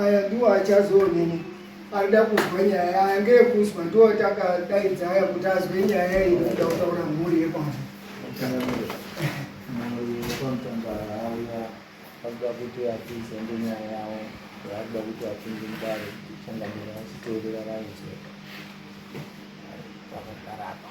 Aya ndiwo achazoonini anoda kunzwa nyaya yaya ngeyekunzwa ndiwo takadaidza aya kuti azwe nyaya yai inoda kutaura mhuri yekwavo akuda kuti apinze ngenyaya yavo akuda kuti apinze mudare changamira achiteerera raidzo vakakarapa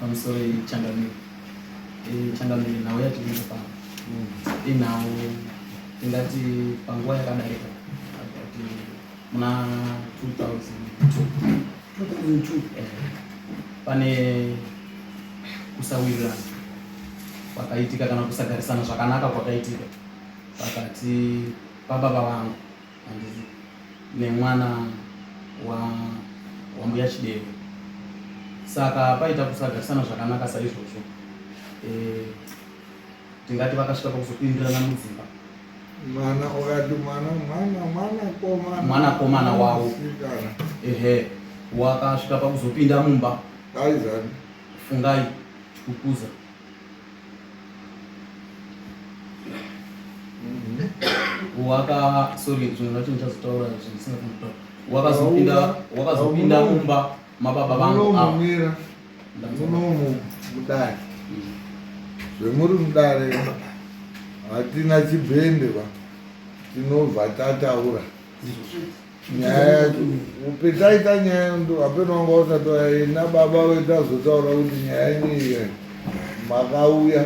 pamusoro yechangamire changamire nhau yatinoita pa inhau tingati panguva yakadarika ati muna 2002 pane kusawirirana kwakaitika kana kusagarisana zvakanaka kwakaitika pakati pababa vangu handizi nemwana wa wambuya Chideve saka paita kusagarisana zvakanaka saizvozvo eh, tingati vakasvika pakuzopindirana mudzimba mwana wakati mwana mwana mwana komana mwana komana wawo ehe wakasvika pakuzopinda mumba aizani fungai chikukuza waka sorry zvimwe zvacho ndichazotaura zvisina kuita wakazopinda wakazopinda mumba mababa vangu mumira munomu mudare zvemuri mudare hatina chibhende va tinobva tataura Thank you. nyaya yacho petaita nyaya yandu hapeno wanga usati waina baba vetazotaura kuti nyaya ineiya makauya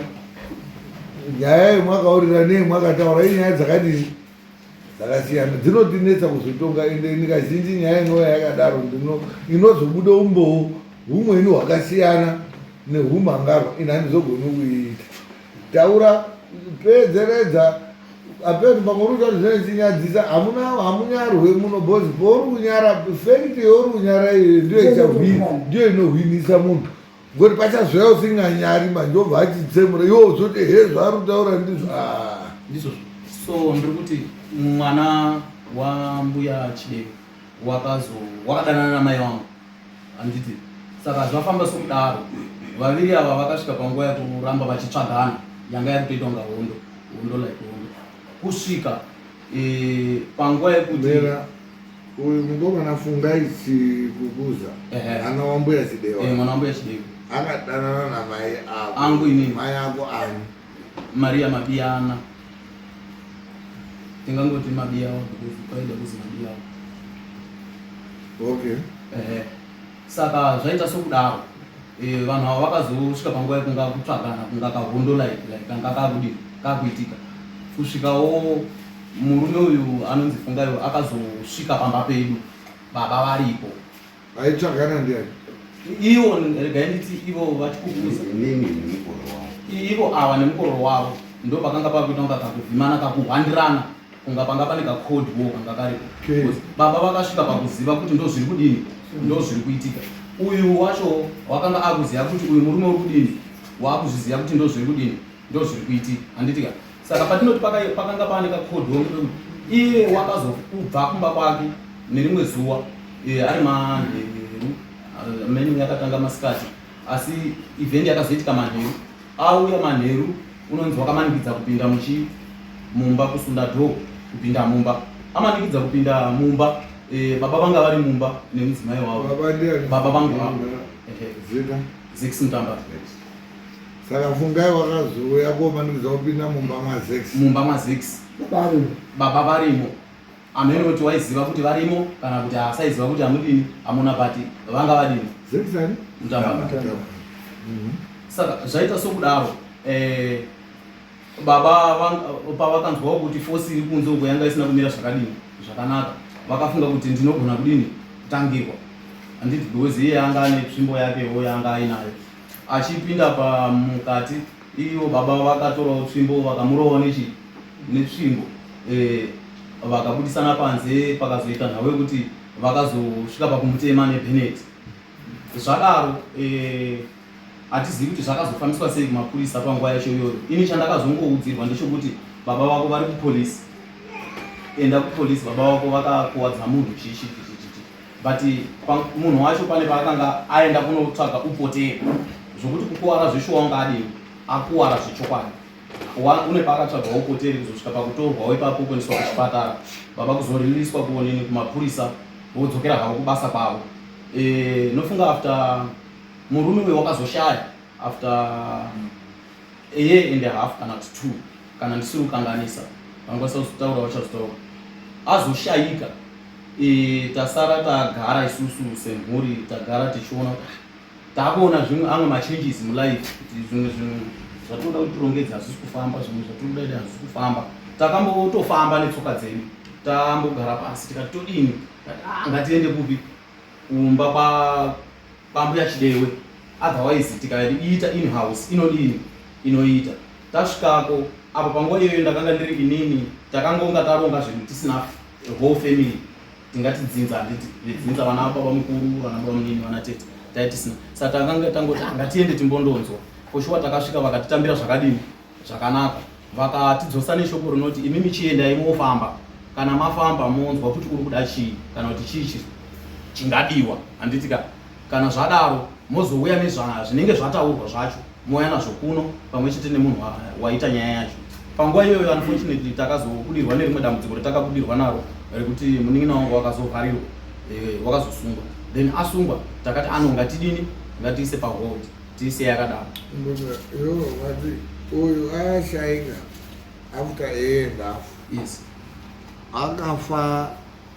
nyaya yemwakaurira nei mwakataura i nyaya dzakadii dzakasiyana dzinotinetsa kuzotonga ende nikazhinji nyaya inouya yakadaro ndino inozobuda umbowo humweni hwakasiyana nehumhangarwa ini handizogoni kuiita Taura pedzeredza apedza pamwe uri kuta zvinenzinyadzisa hamuna hamunyarwe muno bos pauri kunyara fekiti yauri kunyara iyo ndiyo ichahwina ndiyo inohwinisa munhu ngoti pachazvaya usinganyari manje obva achitsemura iwo zoti he zvaari kutaura ndizvo ah. ndizvo so ndiri kuti mwana wambuya chideko wakazo wakadanana namai wangu handiti saka zvafamba sokudaro vaviri ava vakasvika panguva yekuramba vachitsvagana yanga yakutoita kunga hondo hondo like hondo kusvika e, panguva yekuti uyu mukomana fungai chikukuza ana wambuya chidewa eh, mwana wambuya chidewa akadanana namai ako angu ini mai ako ani Maria Mabiyana tingangoti Mabiyawa because kwaida kuzi Mabiyawa okay eh saka zvaita sokudaro eh vanhu ava vakazosvika panguva yekunga kutsvagana kunga kahondo like like kanga kakudi kakuitika kusvikawo murume uyu anonzi Fungayo akazosvika pamba pedu baba varipo Aitsvagana ndiani? Ivo regai nditi ivo vachikukuza. Nini nemukoro wavo. Ivo ava nemukoro wavo ndo pakanga pakuita kunga kakuvhimana kakuhwandirana kunga panga pane kacold war kanga karipo. Baba vakasvika pakuziva kuti ndo zviri kudini ndo zviri kuitika. Uyu wacho wakanga akuziva kuti uyu murume uri kudini wakuzviziva kuti ndo zviri kudini. ndo zviri kuitika handiti ka saka patinoti pakanga pane kakodhi wekuti iye wakazokubva kumba kwake nerimwe zuwa eh, ari manheru eh, menu yakatanga masikati asi event yakazoitika manheru auya manheru unonzi wakamanikidza kupinda muchi mumba kusunda dho kupinda mumba amanikidza kupinda mumba eh, baba vanga vari mumba nemudzimai wavo baba vangu zix mutamba saka fungai wakazouya komanikidza kupinda mumba mazex mumba mazex baba varimo amene kuti waiziva kuti varimo kana kuti asaiziva kuti amudini amuna pati vanga vadini mhm. saka zvaita sokudaro eh, baba pavakanzwawo kuti fosi iri kunze uko yanga isina kumira zvakadini zvakanaka vakafunga kuti ndinogona kudini kutangirwa handiti because iye anga ane tsvimbo yakewo yanga ainayo achipinda pamukati ivo baba vakatorawo tsvimbo vakamurova nechi netsvimbo eh, vakabudisana panze pakazoita nhau yekuti vakazosvika pakumutema nebenet zvadaro eh, hatizivi kuti zvakazofambiswa sei kumapurisa panguva yacho iyoyo ini chandakazongoudzirwa ndechokuti baba vako vari kupolisi enda kupolisi baba vako vakakuwadza munhu chichi but munhu wacho pane paakanga aenda kunotsvaga upoteri zvokuti kukuwara zveshuwa wanga adii akuwara zvechokwadi une paakatsvaga upoteri kuzosvika pakutorwawo ipapo kuendeswa kuchipatara baba kuzoririswa kuonini kumapurisa vodzokera havo kubasa kwavo e, nofunga after murume uyo wakazoshaya after a year and a half kana kuti two kana ndisiri kukanganisa vangakwanisa kuzotaura vachazotaura azoshayika tasara tagara isusu semhuri tagara tichiona kuti ah, takuona zvimwe amwe machanges mulife kuti zvimwe zvinhu zvatinoda kuti tirongedze hazvisi kufamba zvimwe zvatinoda ida hazvisi kufamba takambotofamba netsoka dzedu tambogara pasi tikati todini ah, ngatiende kupi kumba kwambuya chidewe otherwise tikaiita inhouse inodini inoita tasvikako apo panguva iyoyo ndakanga ndiri inini takangonga taronga zvinhu tisina the whole family tingati dzinza handiti vedzinza vana baba mukuru vana baba munini vana tete taitisina saka takanga tangoti ngatiende timbondonzwa koshuwa takasvika vakatitambira zvakadini zvakanaka vakatidzosa neshoko rinoti imi michiendai mofamba kana mafamba monzwa kuti uri kuda chii kana kuti chii chingadiwa handitika Kana zvadaro mozouya nezvinenge zvataurwa zvacho mouya nazvo kuno pamwe chete nemunhu waita nyaya yacho. Panguva iyoyo unfortunately takazobudirwa nerimwe dambudziko retakabudirwa naro rekuti munin'ina wangu wakazovharirwa eh, wakazosungwa then asungwa takati ano ngatidini ngatiise pahold tiise yakadaro uyu ayashaika after aenda yes akafa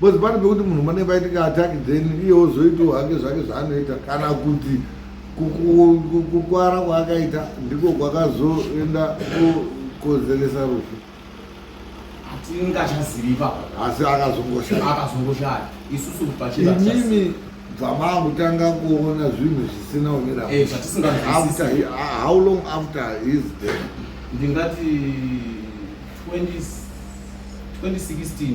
Because pane pekuti munhu mane vaitika attack then iye ozoitawo hake zvake zvaanoita kana kuti kukwara kwaakaita ndiko kwakazoenda kukonzeresa rufu tingachazivi papa asi akazongoshaaakazongoshaya isusu pachiinini bvamangu tanga kuona zvinhu zvisina umira eh, how long after his death ndingati 2016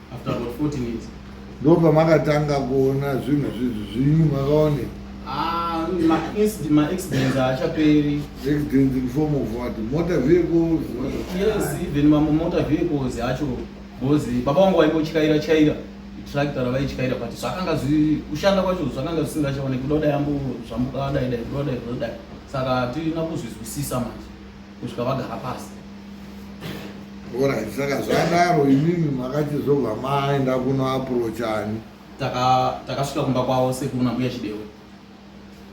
after about 40 minutes ndo pamakatanga kuona zvinhu zvizvi zvinyu makaone ah, maaccidents haachaperi accidents in form of what motor vehicles yes even mamwe motor vehicles acho because baba wangu vaingotyaira tyaira tractor ravaityaira but zvakanga kushanda kwacho zvakanga zvisingachaoneki kuda kudai ambo zvambuka dai dai kuda kudai kuda kudai saka hatina kuzvizwisisa manje kusvika vagara pasi orit saka zvadaro imimi makachizobva maenda kunoaprochani takasvika kumba kwavo sekuru nambuya chidewe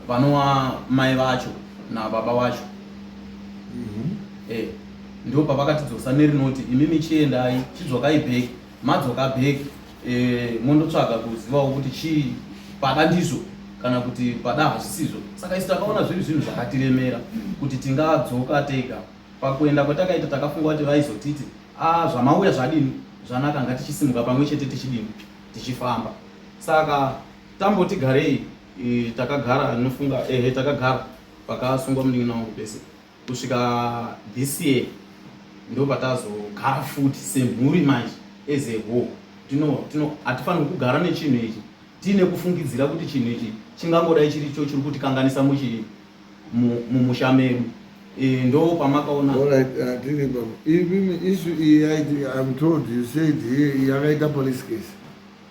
vanova mai vacho nababa vacho mhm. eh, ndo pavakatidzosa nerinoti imimi chiendai chidzwakai bheki Madzoka back eh, mondotsvaga kuzivawo kuti chii pada ndizvo kana kuti pada hazvisizvo saka isu takaona zviri zvinhu zvakatiremera kuti tingadzoka tega pakuenda kwatakaita takafunga kuti vaizotiti a ah, zvamauya zvadini zvanaka ngatichisimuka pamwe chete tichidini tichifamba saka tamboti garei eh, takagara nofunga ehe takagara pakasungwa munin'ina wangu pese kusvika this year ndobatazogara futi semhuri manje as a whole tino tino hatifanirwi kugara nechinhu ichi tiine kufungidzira kuti chinhu ichi chingangodai chiri cho chiri kutikanganisa muchi mumusha mu, medu e, ndo pamakaona isu iyi yaiti am told you said yakaita police case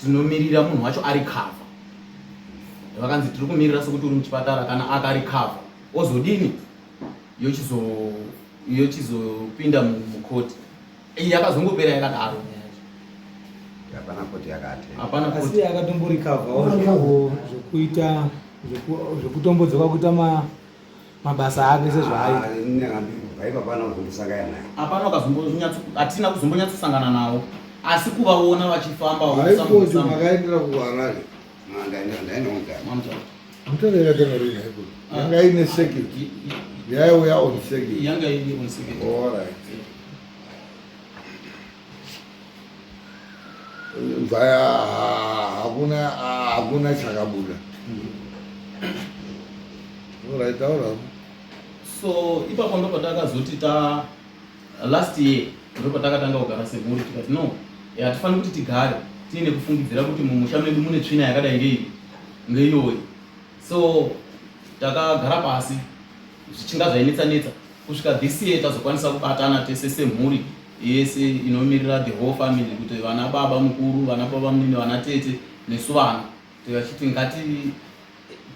tinomirira munhu wacho ari cover vakanzi tiri kumirira sokuti uri muchipatara kana akari cover ozodini yochizopinda mukoti iyi yakazongopera yakadaro hapana koti yakati hapana koti yakatomborikavhawo zvekuita zvekutombodzoka kuita ma mabasa ake sezvaaitaatina kuzombonyatsosangana navo asi kuvaona vachifamba makaendera kuharare yanga ine second yaiuya on second yanga ine on second all right mvaya hakuna hakuna chakabuda orai taurawo so ipapo ndo patakazoti ta last year ndo patakatanga kugara semhuri tikati no hatifaniri kuti tigare tiine kufungidzira kuti mumusha medu mune tsvina yakadai ngei ngeiyoyi so takagara pasi zvichinga zvainetsanetsa kusvika this year tazokwanisa kubatana tese semhuri yese inomirira the whole family kuti vana baba mukuru vana baba munini vana tete nesu vana tikachiti ngati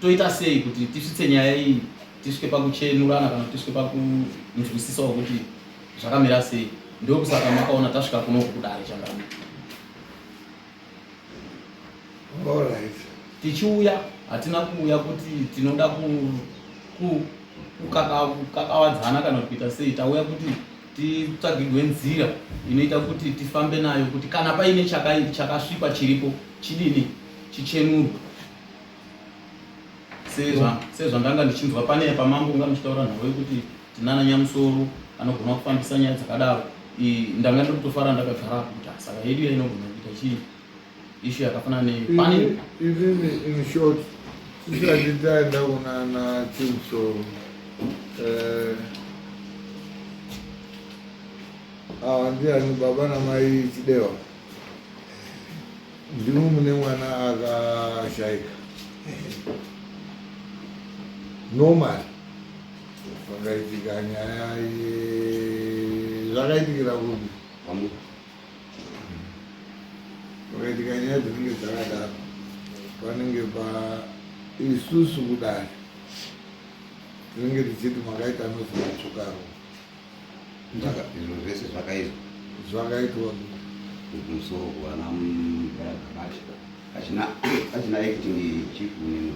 toita sei kuti tisvitse nyaya iyi tisvike pakuchenurana kana tisvike pakunzwisisawo kuti zvakamira sei ndokusaka makaona tasvika kuno kudare changana tichiuya hatina kuuya kuti tinoda kukakawadzana kana kuita sei tauya kuti titsvagirwe nzira inoita kuti tifambe nayo kuti kana paine chakasvipa chiripo chidini chichenurwe sezvandanga ndichinzwa pane pamambo unga muchitaura nhau yekuti Tinana Nyamusoro anogona kufambisa nyaya dzakadaro. Ndanga ndiri kutofara ndakagara kuti saka yedu yainogona kuita chii ishu yakafanana nepanini. Inini in short tisati taenda kunana Chimusoro eh, awa ndiani baba namai Chidewa ndimo mune mwana akashaika normal Vakaitika nyaya zvakaitikira kupi vakaitika nyaya dzinenge dzakadaro panenge pa isusu kudari tinenge tichiti makaita nozi matsvukaro izvo zvese zvakaizwa zvakaitwa kumusoro kuana mbaragabachi achina acting chief uneno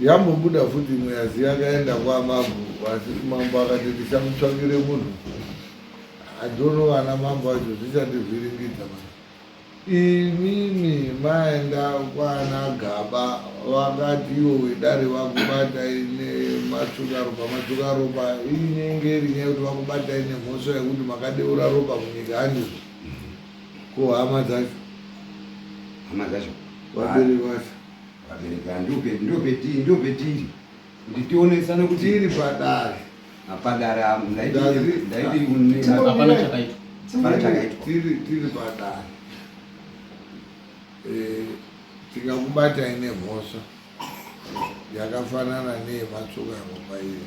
Yambobuda futi imwe yazi yakaenda kwamambo asi mambo akati ndichamutsvakire munhu adhono vana mambo acho zvichandivhiringidza ma imimi maenda kwana gaba vakati iwo wedare vakubata ine matsukaropa matsukaropa inenge rinyaya yekuti vakubata ine mhosva yekuti makadeura ropa munyika handizo ko hama dzacho hama dzacho vabiri vacho vabereki aya ndiwo peti ndiwo peti ndiwo petiri kuti tionesane kuti tiri padare apadare apo ndaiti ndaiti hapana chakaitwa hapana chakaitwa tiri tiri padare eh, tikakubatai nemhosva yakafanana neyematsoka ropa iyo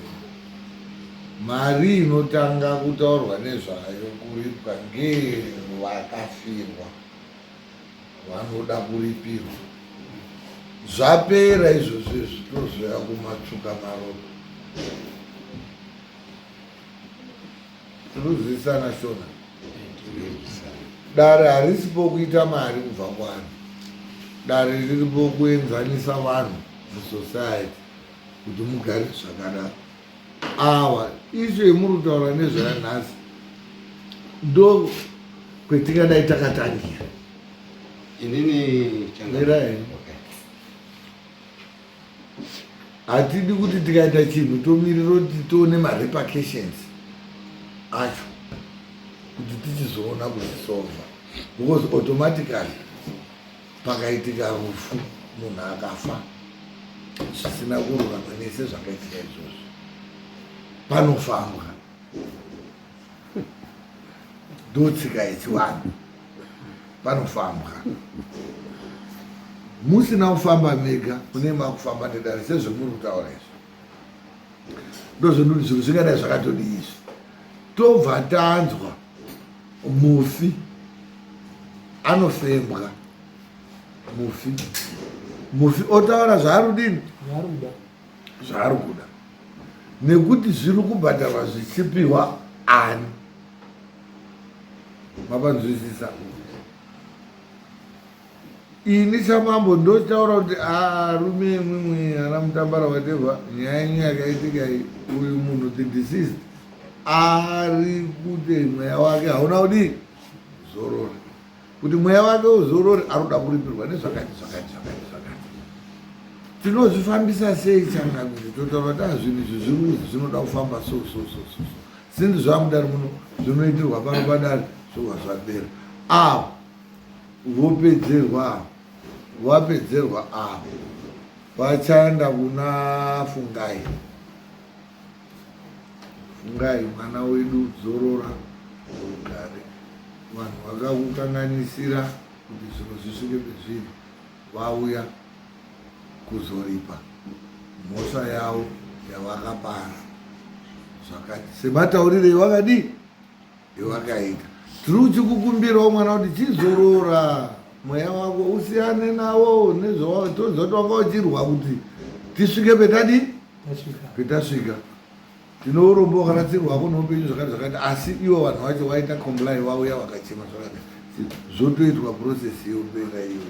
mari inotanga kutaurwa nezvayo kuripwa ngevakafirwa vanoda kuripirwa zvapera izvozvo zvitozoya kumatsvuka maropa tinozivisana shona dare harisipo kuita mari kubva kwani dare riripo kuenzanisa vanhu musociety kuti mugare zvakanaka awa isu yemuri kutaura nezvaya nhasi ndo kwetingadai takatangira inini changairaini hatidi kuti tikaita chinhu tomirira kuti tione marepercussions acho kuti tichizoona kuzisova because automatically pakaitika rufu munhu akafa zvisina kururama nese zvakaitika izvozvo panofambwa ndotsika yechivanhu panofambwa musina kufamba mega kune makufamba nedare sezvemuri kutaura izvi ndozvendoti zvinhu zvingadai zvakatodii izvi tobva tanzwa mufi anofembwa mufi mufi otaura zvaarudini zvaari kuda nekuti zviri kubhadharwa zvichipiwa ani mavanzwisisa Ini samambo ndotaura kuti arume ah, imwimwi ana mutambara whatever nyaya yenyu yakaitika iyi uyu munhu the deceased ari kuti mweya wake hauna kudii zorore kuti mweya wake uzorore anoda kuripirwa nezvakati zvakati zvakati zvakati tinozvifambisa sei changamire totaura kuti azvinhu ah, izvi zviruzi zvinoda kufamba so so so so sinzi zvamudari muno zvinoitirwa pano padari zvowa zvapera ava ah, Vopedzerwa vapedzerwa avo vachaenda kuna fungai fungai mwana wedu zorora ugare vanhu vakakukanganisira kuti zvinhu zvisvike pezviri vauya kuzoripa mhosva yavo yavakapara zvakati semataurire vakadii Iwakaika. True chikukumbirawo mwana kuti chizorora mweya wako usiyane nawo nezvawa tonzwa kuti wanga uchirwa kuti tisvike petadi petasvika tine urombo wakaratsirwa wako neupenyu zvakati zvakati asi iwo vanhu vacho waita comply wauya wakachema zvakati zvotoitwa process yeupenga iyo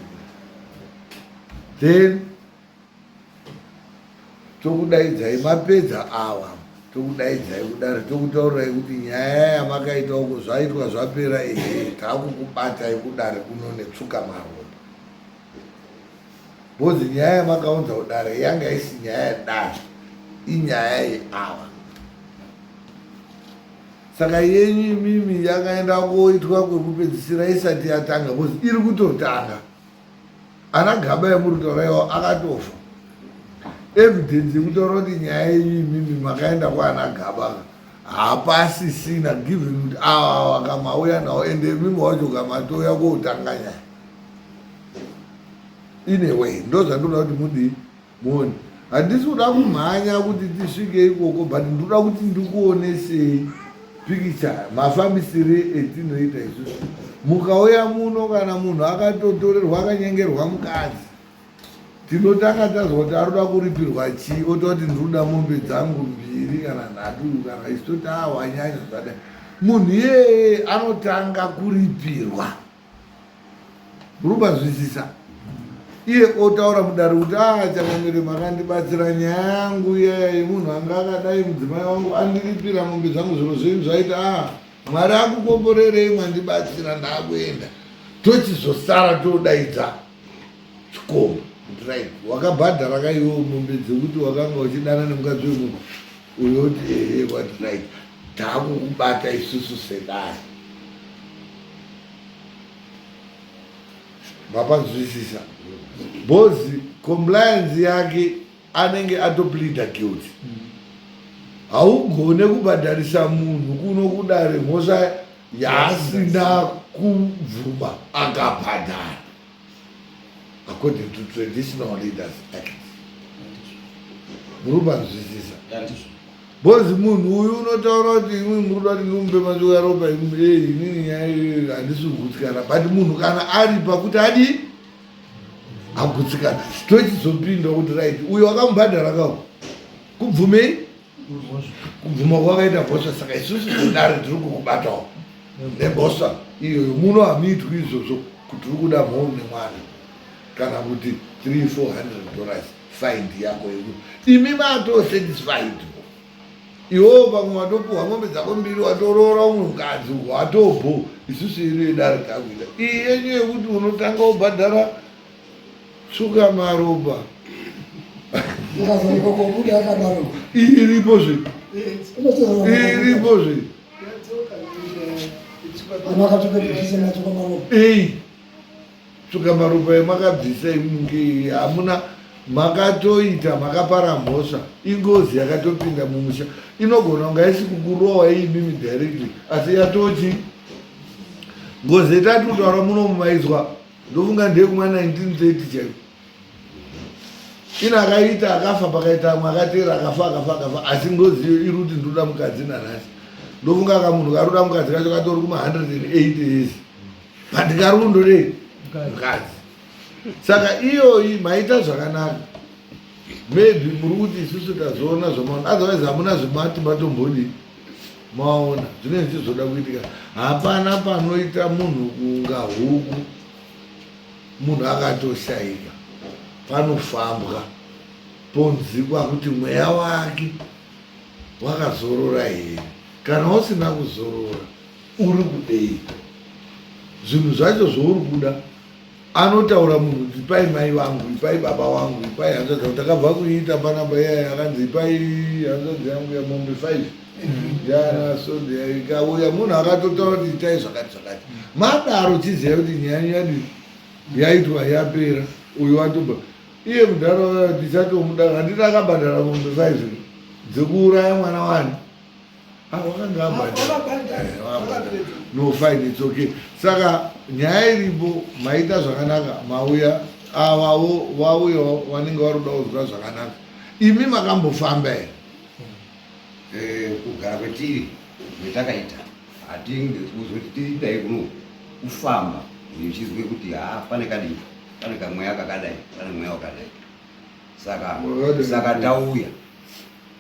then tokudaidzai mapedza awa tokudaidzai kudaro tokutaurirai kuti nyaya yamakaita uko zvaitwa zvapera ehe taakukubatai kudare kuno netsuka maromba bhozi nyaya yamakaunza kudare yanga isi nyaya yedare inyaya yeawa saka yenyu imimi yakaenda koitwa kwekupedzisira isati yatanga bhozi iri kutotanga ana gaba emuruto raiwo akatofa evidence yekutaura kuti nyaya yenyu imimi makaenda kwaana gaba hapasisina given kuti awa wakamauya nawo ende imimi wacho kamatouya koutanga nyaya in a way ndozvandinoda kuti mudii moni handisi kuda kumhanya kuti tisvike ikoko but ndoda kuti ndikuonesei pikicha mafambisire etinoita isusu mukauya muno kana munhu akatotorerwa akanyengerwa mukadzi tinotanga tazwa kuti aroda kuripirwa chii ota kuti ndinoda mombe dzangu mbiri kana nhatu kana isu toti awanyanya zvadai munhu iyeye anotanga kuripirwa muri kubazwisisa iye otaura mudare kuti a ah, changamire makandibatsira nyaya yangu iyaya yemunhu anga akadai mudzimai wangu andiripira mombe zvangu zviro zvenyu zvaita a ah, mwari akukomborerei mwandibatsira ndaakuenda tochizosara todaidza chikombo right wakabhadhara kaiwo mombe dzekuti wakanga uchidana nemukadzi wemunhu unoti ehe what right takukubata isusu sedare mapanzwisisa bhozi compliance yake anenge atoplida guilty haugone kubhadharisa munhu kuno kudare mhosva yaasina kubvuma akabhadhara according to traditional leaders act muri panzwisisa bozi munhu uyu unotaura kuti imwe muri kuda kuti ndiumbe manje uyaropa inini nyaya handisi kugutsikana but munhu kana ari pakuti adi agutsikana tochizopinda kuti right uyo akamubhadhara kawo kubvumei kubvuma kwakaita bhosva saka isusu sedare tiri kukubatawo nebhosva iyoyo muno hamiitwi izvozvo kuti uri kuda mhou nemwana kana kuti 3400 dollars find yako yedu imi matosatisfied iwewo pamwe watopuhwa mombe dzako mbiri watoroora umwe mukadzi uko watobho isusu yedu yedare takuita iyi yenyu yekuti unotanga ubhadhara Suka maropa. Ndikazonoka kobuda akadaro. Iripo zve. Iripo zve. Ana akatoka kutisa nacho kwa maropa. Eh. Suka maropa yemakabvisa imunge hamuna makatoita makapara mhosva ingozi yakatopinda mumusha inogona kunga isi kukurowa iyi mimi directly asi yatochi ngozi yetati kutaura muno mumaizwa ndofunga ndeyekuma 1930 chaiko ina akaita akafa pakaita amwe akateera akafa akafa akafa asi ndoziyo iri kuti ndoda mukadzi nanhasi ndofunga ka munhu karoda mukadzi kacho katori kuma 108 years but karundore mukadzi saka iyoyi maita zvakanaka maybe muri kuti isusu tazoona zvamaona otherwise hamuna zvemati matombodii maona zvine zvichi zvoda kuitika hapana panoita munhu kunga huku munhu akatoshaika panofambwa ponzikwa kuti mweya wake wakazorora here kana usina kuzorora uri kudei zvinhu zvacho zvouri kuda Anotaura munhu kuti ipai mai vangu, ipai baba wangu, ipai hanzvadzi yangu. Takabva kuiita panamba iyaya akanzi ipai hanzvadzi yangu yamombe five mm-hmm. yana sonde ikauya munhu akatotaura kuti itai zvakati zvakati. Madaro chiziva kuti nyaya nyadi yaitwa yapera uyu watoba iye mudhara tichatomuda handina akabhadhara mombe five dzekuuraya mwana wani no fine it's okay saka nyaya iripo maita zvakanaka mauya avavo vauyawo vanenge vari kuda kuzwa zvakanaka imi makambofamba here eh, kugara kwetiri metakaita hatinge kuzoti tiitai kuno kufamba ndichizwe kuti ha pane kadii pane kamweya kakadai pane mweya wakadai saka saka tauya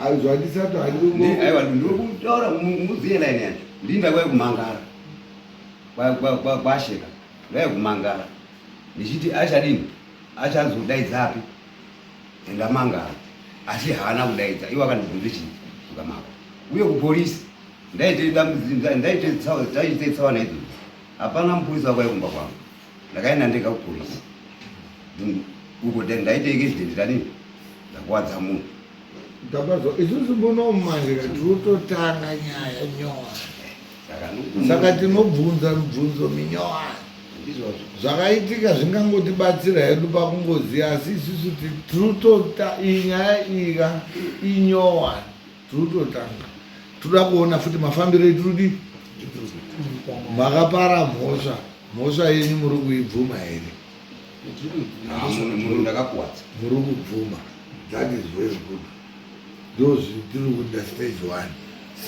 hanzwa ndisati handiaiwa ndiri kutaura mudziye laini yacho ndinda kwai kumangara kwasheka ndai kumangara ndichiti achadini achazodaidza api ndamangara asi haana kudaidza iwo akandibvunza chii zvakamaka uye kupolisi ndaite tsaona idzodzo hapana mupurisa wakwai kumba kwangu ndakaenda ndega kupolisi uko then ndaita accident tani ndakuwadza munhu ndabazwa isusu muno mumanzira tirutotanga nyaya nyora saka tinobvunza mibvunzo minyowani zvakaitika zvingangotibatsira hedu pakungoziva asi isusu tirutota iyi nyaya ika inyowani Tirutotanga. Tinoda kuona futi mafambiro etirudi makapara mhosva mhosva yenyu muri kuibvuma here muri kubvuma that is very good ndozvii tiri kuita stage one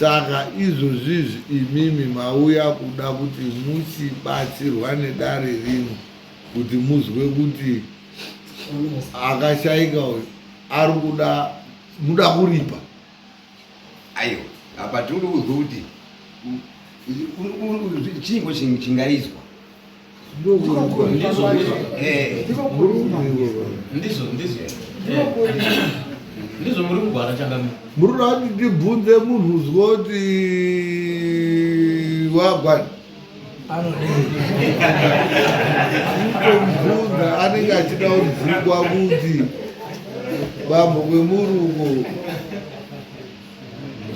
saka izvozvizvi imimi mauya kuda kuti muchibatsirwa nedare rino kuti muzwe kuti akashaika uyu ari kuda muda kuripa ayo apa tiri kuudzwa kuti chingo chingaizwa ndizvo muri kugwara changamira muri kuti tibvunze munhu uzwa kuti wagwara anodeibvunza anenge achida kubvugwa kuti bambo kwemurungo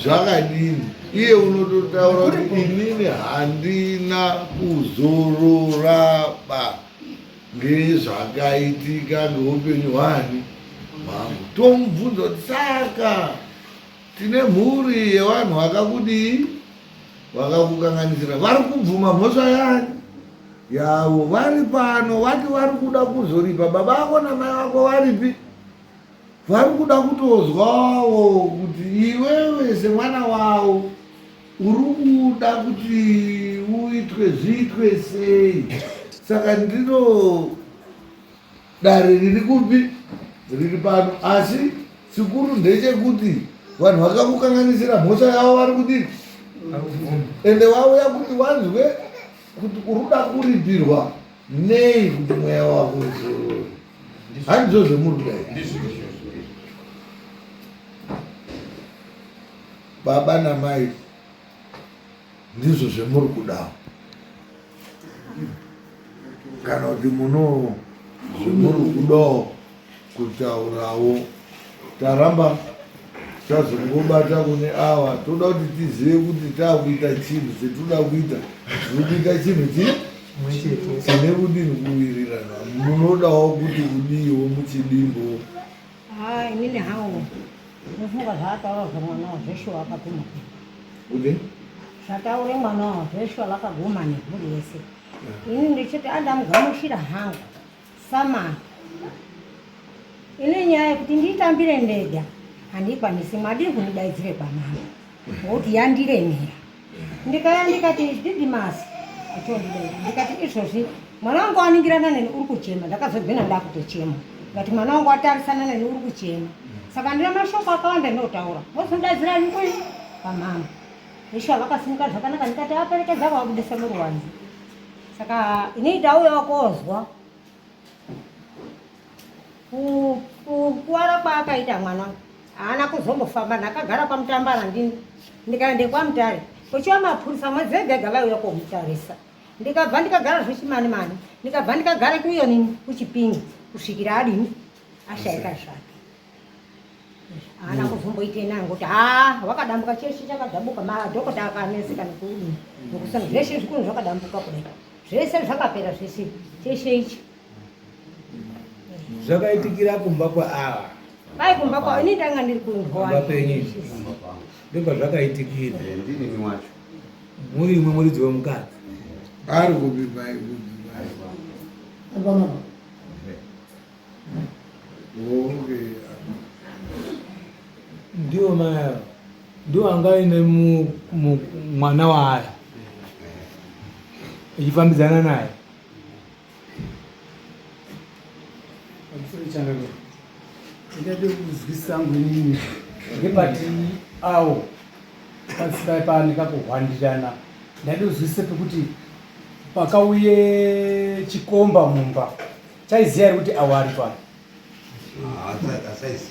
zvakadini iye unototaura kuti inini handina kuzororaba ngezvakaitika ngeupenyu hwani mambo tomubvunza kuti saka tine mhuri yevanhu vakakudii vakakukanganisira vari kubvuma mhosva yani yavo vari pano vati vari kuda kuzoripa baba vako namai vako varipi vari kuda kutozwawo kuti iwewe semwana wavo uri kuda kuti uitwe zviitwe sei saka ndino dare riri kupi riri pano asi chikuru ndechekuti vanhu vakakukanganisira mhosva yavo vari kudii ende wauya kuti wanzwe kuti uruda kuripirwa nei kuti mweya wako uzorore handizo zvemuri kudai baba namai ndizvo zvemuri kudawo kana kuti muno zvemuri kudawo kutaurawo taramba tazongobata kune awa toda kuti tizive kuti taakuita chinhu chetinoda kuita tinobika chinhu chii tine kudini kuwirirana munodawo kuti udiiwo muchidimbo Haa inini hangu ndofunga zvaataura zvemwana wa Joshua akaguma. Ude? Zvataure mwana wa Joshua vakaguma nemhuri yese. Ini ndichiti andamugamuchira hangu samana. Ine nyaya yekuti ndiitambire ndega handikwanisi madii kundidaidzire kwamama. Bhoti yandiremera ndikaya ndikati didimasi atondidai ndikati izvozvi mwana wangu aningirana neni uri kuchema ndakazogwina ndakutochema but mwana wangu atarisana neni uri kuchema saka ndina mashoko akawanda ndinotaura mozondadzira nikui pamama ishuwa vakasimuka zvakanaka ndikati aperekedza kwavabudisa muruwanzi saka inoita uyo wakozwa kukuvara kwaakaita mwana haana kuzombofamba ndakagara kwamutambara ndini ndikaende kwamutare kuchiva mapurisa mwedzi ega ega vaiuya komutarisa ndikabva ndikagara zvechimani mani ndikabva ndikagara kuyo nini kuchipingi kusvikira adini ashaika zvake haana kuzomboite nayo ngokuti ha wakadambuka cheshe chakadambuka madhokota akaneseka nekudini nokusana zveshe zvikunhu zvakadambuka kudai zvese zvakapera zvese cheshe ichi zvakaitikira kumba kwaava pai kumba kwavo ini ndanga ndiri kumba penyu ndopazvakaitikira eh, ndinimi wacho muri imwe muridzi wemukadzi ari kupi pai ndiwo maya ndiwo anga aine mwana waaya echifambidzana naye ndingade kuzwisisa angu inini ngepati awo pasipai paaneka kuhwandirana ndade kuzwisisa pekuti pakauye chikomba mumba chaiziva kuti awo ari pano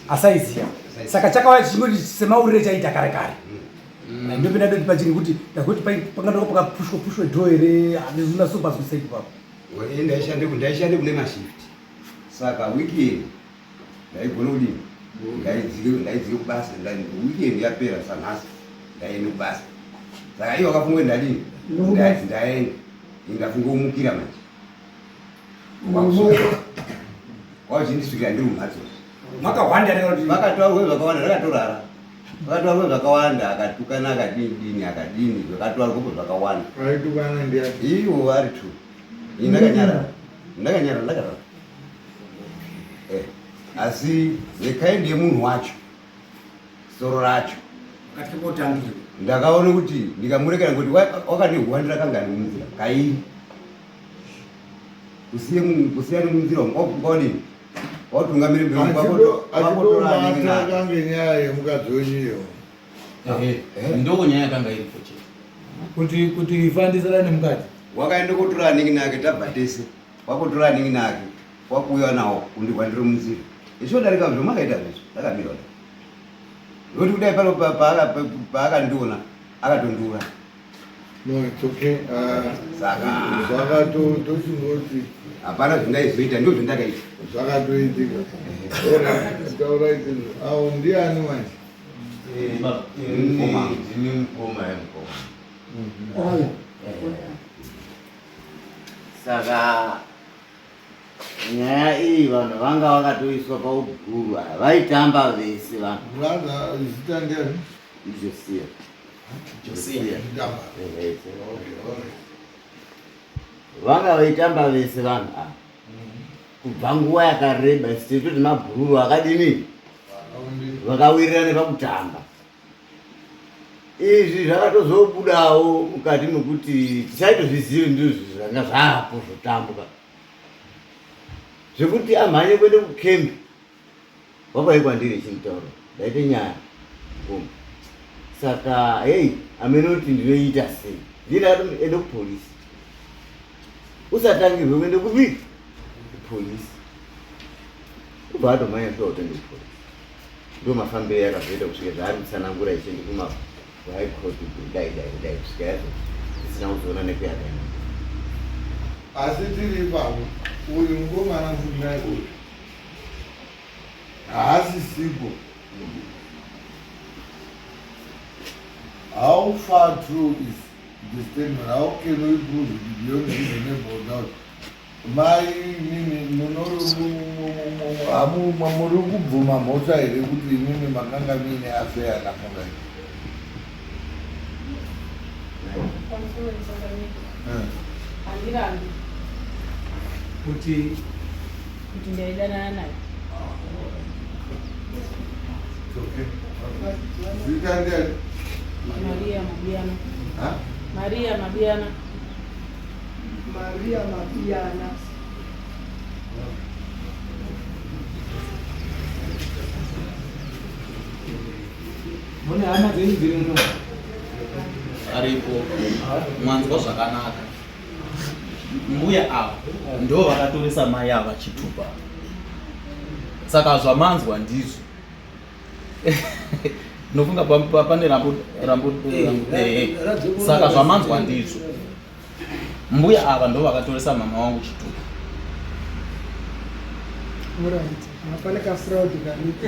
asaiziva saka chakauya chichingoti semaurire chaita kare kare mm. eh, ndopinda ndoti pachiri kuti ndakuti pangadoko pakapushwa pushwa dho here handizvina so pazwisei papo ndaishande ndaishande kune mashift saka weekend ndaigona kudini mm. ndaidzike ndaidzike kubasa weekend yapera sanhasi ndaende kubasa saka iye wakafunga kuti ndadini ndaenda ingafunga kumukira manje wazvindisvika ndiri mumhatso makahwanda vakatwavo zvakawanda rakatorara vakatwavo zvakawanda akatukana akadini dini akadini zvakatwavo koko zvakawanda ivo vari two ini ndakanyarara ndakanyarara ndakarara eh, asi nekaindi yemunhu wacho soro racho katya kotangirwa ndakaona kuti ndikamurekera ngokuti wakanehwandira kangani munzira kairi kusiya nemunzira kwaonei watungamire mbeakange nyaya yemukadzi wenyiyo ah, eh, eh. ndoo nyaya yakanga iri kuti kuti fandiisana nemukadzi wakaenda kotora anenge nake tabva tese wakutora anenge nake wakuuya nawo kundihwa ndiri munzira ichodarika zvo makaita zvezvo ndakamira kuti ndokuti kudai pano paakandiona akatondiura no it's okay uh, saka zvakatotochingoti hapana zvindaizoita ndo zvindakaita zvakatoitika taura iti awo ndiani manje ndini mukoma yamukoma saka nyaya iyi vanhu vanga vakatoiswa pauguru aya vaitamba vese vanhu brother zita ndiyani ijosia Josiah Mtamba. Ehe, ise. Okay, okay. vanga vaitamba vese vanhu ava Mhm. kubva nguva yakareba sititoti mabhururu akadini Vakaundira. vakawirirana pakutamba izvi zvakatozobudawo mukati mekuti tisaitozvizive ndizvo zvanga zvaapo zvotambwa zvekuti amhanye kuende kukembi wakwai kwandiri chimutauro ndaite nyaya koma saka hei amene kuti ndinoita sei ndindaende kupolisi usatangirwe kuende kupi kupolisi ubva atomhanya sva utenge kupolisi ndo mafambiro yakazoita kusvika zvaari kutsanangura ichi ndikuma kuhigh court kudai dai kudai kusvika yazo isina kuzoona nekuyakaenda asi tiri ipapo uyu mukomana mufunai uyu haasi sipo how far true is the statement how can we prove it beyond reasonable doubt Mai imimi munorumu muri kubvuma mhosva here kuti imimi makanga mine afeya namurai handirambi kuti kuti ndaidanana naye zita ndiani maria mabiyana maria mabiyana Maria Mapiyana. Mune hama dzenyu dziri muno aripo mwanzwa zvakanaka mbuya ava ndo vakatoresa mai ava chitupa saka zvamanzwa ndizvo Nofunga pane rambo rambo eh, eh, eh. saka zvamanzwa ndizvo. Mbuya ava ndo vakatoresa mama wangu chituko. Alright. Hapana ka fraud karipo.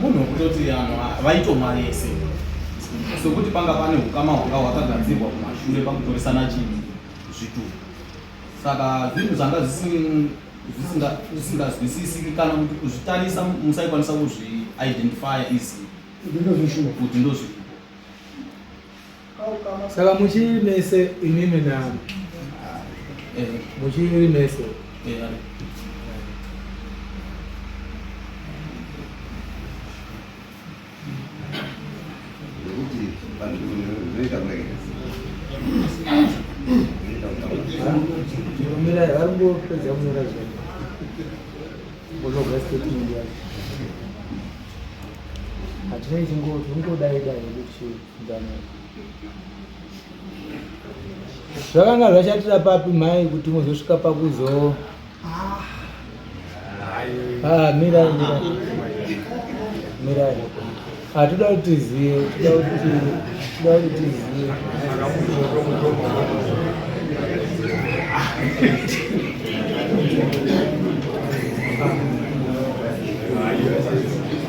munhu wekutoti vanhu vaitomwa vese sokuti panga pane ukama hwanga hwakagadzirwa kumashure pakutoresana chinhu zvituku saka zvinhu zvanga zvisingazwisisiki kana kuti kuzvitarisa musaikwanisa kuzviidentifya easy kuti ndozvii saka muchiri mese imimi na eh. muchiri mese eh, varikupedza kunyora zvinhu unogwa statement yacho hatinei tingodai dai nekuchii zvakanga zvashatira papi mhai kuti muzosvika pakuzo ah. ah, mirai mirai mirai hatuda ah, kuti zive tuda kuti zive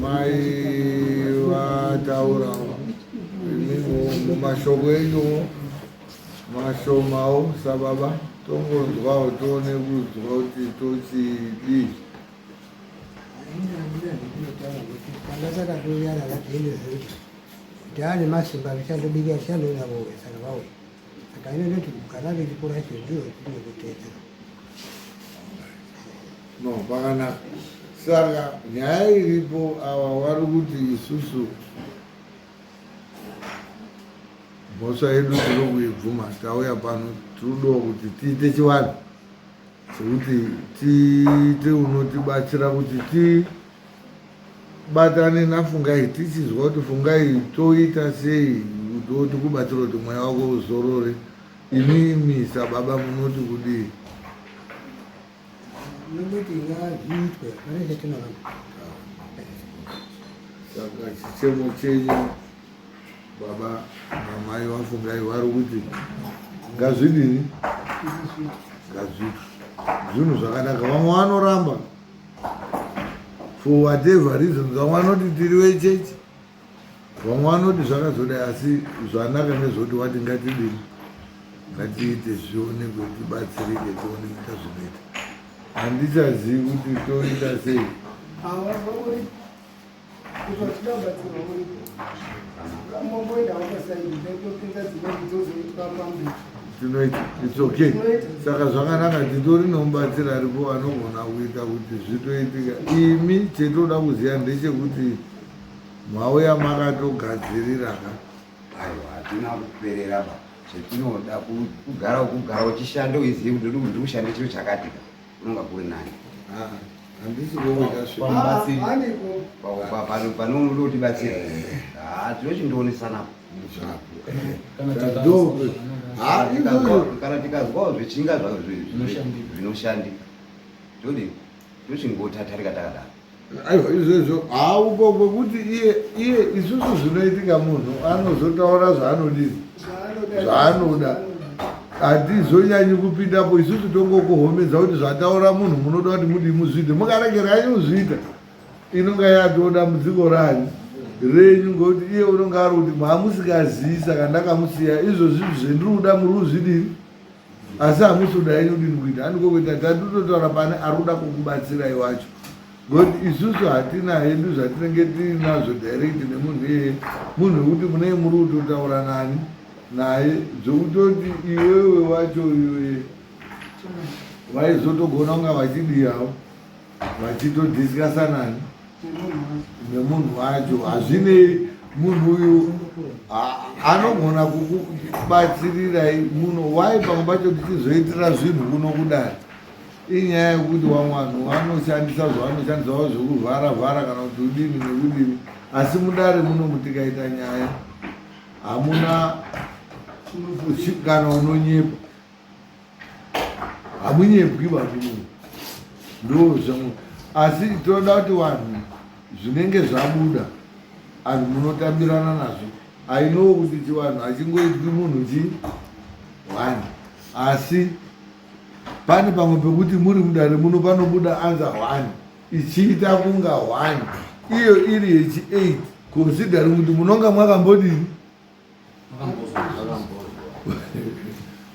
Mai vataurawo mashoko enyuwo mashomawo sababa tongonzwawo tione kudzwa kuti tochidii ndakatouya navadheni zekuti taane masimba achandobikira chandouya vouya saka vauya Akaenda kuti kana riripo racho ndiro rine kuteedzera. No, pakanaka. Saka nyaya iripo ava vari kuti isusu mhosva yedu tiri kuibvuma tauya pano tiriudiwa kuti tiite chivanhu chekuti tiite unotibatsira kuti ti tibatane nafungai tichinzwa kuti fungai toita sei kuti kubatsira kuti mweya wako uzorore imimi sababa munoti kudii saka chichemo chenyu baba namai vafungai vari kuti ngazvidini ngazviti zvinhu zvakanaka vamwe vanoramba for whatever reasons vamwe vanoti tiri vechechi vamwe vanoti zvakazodai asi zvanaka nezvoti wati ngatidini ngatiite zvionekwe tibatsirike tioneita zvinoita handichazivi kuti toita sei saka zvakanaka titori nomubatsiri aripo anogona kuita kuti zvitoitika imi chetoda kuziva ndechekuti mauya makatogadziriraga aiwa hatina kuperera ba zvetinoda kugara kugara uchishanda uizive kuti ndiri kushanda chiro chakatika Unonga kuri nani? Ah, handisi kuona kasvika. Pambatsiri. Ah, pano pano unoda kuti batsira. Ah, tinochindoonesa napo. Kana tikazo. Ah, tikazo kana tikazwa zvichinga zvinoshandika. Zvinoshandika. Todi tinochingotatarika takadaro. aiwa izvezvo hauko kwekuti iye iye isusu zvinoitika munhu anozotaura zvaanodii zvaanoda hatizonyanyi kupindapo isusu tongokuhomedza kuti zvataura munhu munoda kuti mudii muzviite mukaregeranyi kuzviita inonga yatoo dambudziko ranyu renyu ngokuti iye unonga ari kuti maamusikazivi saka ndakamusiya izvozvi zvendiri kuda muri kuzvidii asi hamusi kuda henyu kudini kuita handiko kuita tatototaura pane ari kuda kukubatsirai wacho but isusu hatina hedu zvatinenge tiinazvo direct nemunhu iyeye munhu wekuti munei muri kutotaura nani naye zvekutoti iwewe wacho iwe vaizotogona kunga vachidiyavo vachitodhiskasa nani nemunhu wacho hazvinei munhu uyu anogona kukubatsirirai muno wai pamwe pacho tichizoitira zvinhu kuno kudai inyaya yekuti vamwe vanhu vanoshandisa zvavanoshandisavo zvekuvhara vhara kana kuti udini nekudini asi mudare muno mutikaita nyaya hamuna kana unonyepa hamunyebwi varume ndozvamu asi tinoda kuti vanhu zvinenge zvabuda anhu munotambirana nazvo ainowo kuti chivanhu achingoitwi munhu chi one asi pane pamwe pekuti muri mudare muno panobuda anza one ichiita kunga one iyo iri yechi eight considering kuti munonga mwakambodini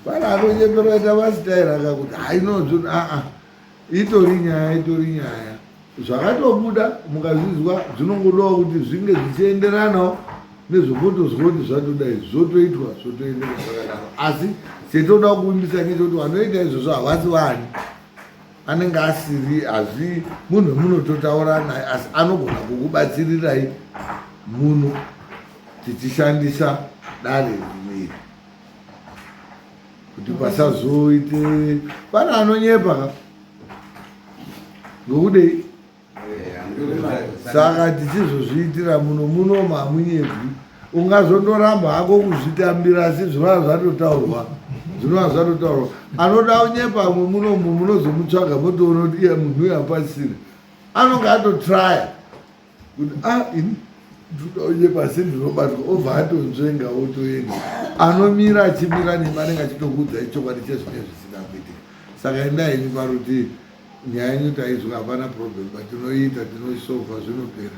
Bwana anonyepera ita masitaira kakuti hainonzvi aa itori nyaya itori nyaya zvakatobuda mukazvizwa zvinongodawo kuti zvinge zvichienderanawo nezvokotozwa kuti zvatoda izvi zvotoitwa zvotoendeka zvakadaro asi chetoda kuvimbisa ngechekuti vanoita izvozvo havasi vani anenge asiri hazvi munhu wemunototaura naye asi anogona kukubatsirirai muno tichishandisa dare rimiri kuti pasazoite pane anonyepa ka ngokudei saka tichizozviitira muno muno mamunyebwi ungazondoramba hako kuzvitambira asi zvinova zvatotaurwa zvinova zvatotaurwa anoda unyepa amwe munomu munozomutsvaga motoona kuti iye munhu uyo apasiri anonge atotraya kuti a ah, ini ndoda unyepa asi ndinobatwa obva atonzvenga otoenda anomira achimira nemi anenge achitokuudzai chokwadi chezvinenge zvisina kuitika saka endai ini parutii Nyaya yenyu tainzwa hapana problem but tinoiita tinoisolver zvinopera.